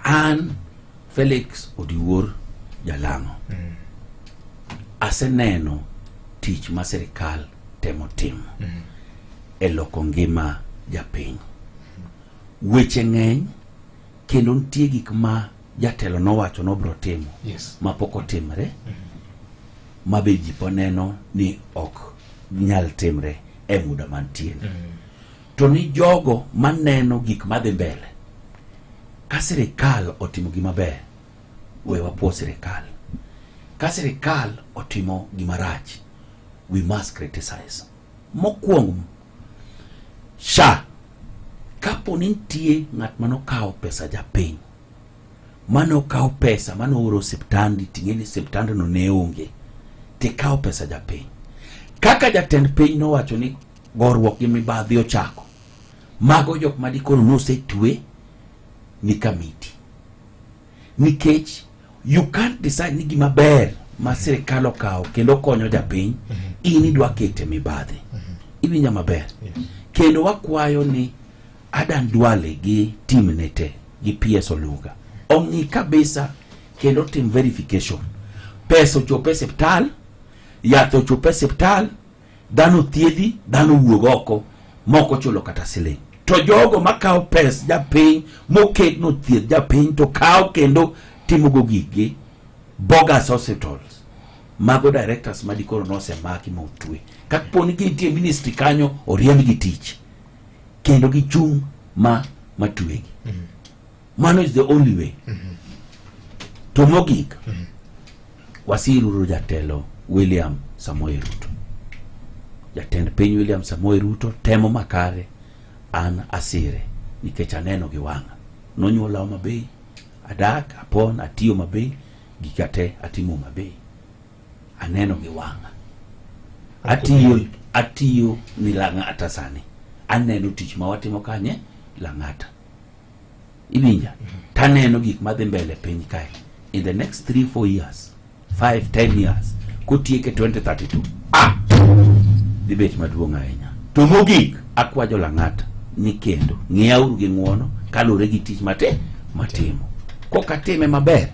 An Felix Odiwuor Jalang'o mm. aseneno tich ma sirikal temo timo mm. e loko ngima japiny. Weche ng'eny kendo nitie gik ma jatelo nowacho nobro timo yes. ma pok otimre mm -hmm. ma be ji poneno ni ok nyal timre e muda mantie mm -hmm. To ni jogo maneno gik madhi mbele, ka sirikal otimo gima ber, we wapuo sirikal. Ka sirikal otimo gima rach, we must criticize. Mokwongo, SHA kapo ni nitie ng'at ma nokawo pesa japiny ma nokawo pesa ma nooro osiptandi ting'e ni osiptandno ne onge tikawo pesa japiny kaka jatend piny nowacho ni Goruok gi mibadhi ochako. Mago jok ma dikoro nosetwe ni kamiti. Nikech you can't decide ni gima ber ma sirikal okawo kendo konyo japiny mm -hmm. in idwa kete mibadhi mm -hmm. iwinja maber yes. kendo wakwayo ni Adan Duale gi tim ne te gi PS Oluga ong'i kabisa kendo tim verification pesa ochope siptal yath ochope siptal dhano thiedhi dhano wuog oko mok ochulo kata siling to jogo makawo pes japiny moket no thieth japiny to kawo kendo timogo gigi bogus hospitals mago directors ma dikoro nosemaki ma otwe kaponi gintie ministry kanyo oriembgi tich kendo gichung' ma matwegi mm. Mano is the only way. Mm -hmm. To mogik, mm -hmm. wasiruru jatelo William Samoei Ruto. Jatend piny William Samoei Ruto temo makare an asire nikech aneno gi wang'a. Nonyuolawa maber, adak, apon, atiyo maber, gika te atimo maber. Aneno gi wang'a. Atiyo atiyo ni Lang'ata sani. Aneno tich ma watimo kanye Lang'ata. iwinja taneno gik madhi mbele piny kae in the next 3 4 years 5 10 years kotieke 2032 ah dibet maduong' ahinya to mogik akwajo lang'ata ni kendo ng'iyauru gi ng'uono kalure gi tich mate matimo kokatime maber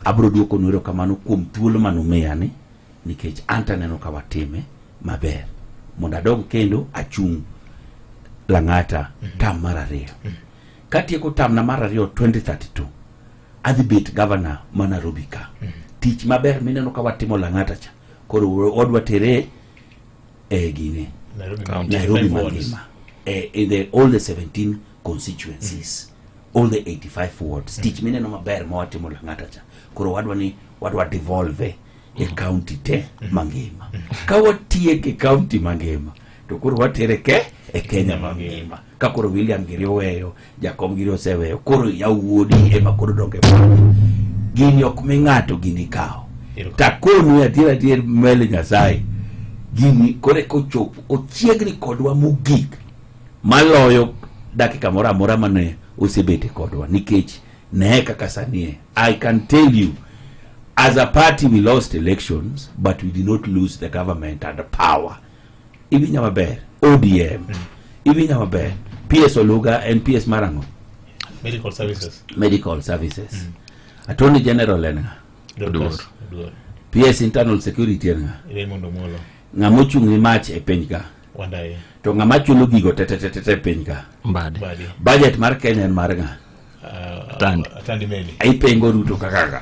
abro duoko nwero kamano kuom thuolo manumiya ni nikech an to aneno ka watime maber mondo adog kendo achung' lang'ata mhm. tam mar ariyo mhm. katieko tamna mar ariyo 2032 adhi bet gavana ma Nairobi ka mhm. tich maber mineno ka watimo lang'ata cha koro odwa tere e gine Nairobi mangima e, in the all the 17 constituencies mm. all the 85 wards mm. tich mineno maber ma watimo lang'ata cha koro wadwa ni wadwa devolve e mm. county te mm. mangima mm. ka watieke county mangima to koro watere ke e kenya mangima ka koro william giri oweyo jakom giri oseweyo koro yawuodi ema koro donge gini ok mi ng'ato gini kawo takonu adier adier mele nyasaye gini koro ekochopo ochiegni kodwa mogik maloyo dakika moro amora mane osebete kodwa nikech ne kaka sanie i can tell you as a party we lost elections but we did not lose the government and the power ibinya maber odm mm. ibinya maber ps oluga and ps marango medical services medical services mm. attorney general en nga ps internal security en nga ng'ama ochung' ni mach e piny ka Wadaye. To ng'ama chulo gigo te te te te te piny ka. Mbadi. Badi. Budget mar Kenya en mar ng'a? Uh, Atandi. Atandi Meli. Ipengo Ruto kaka kaka.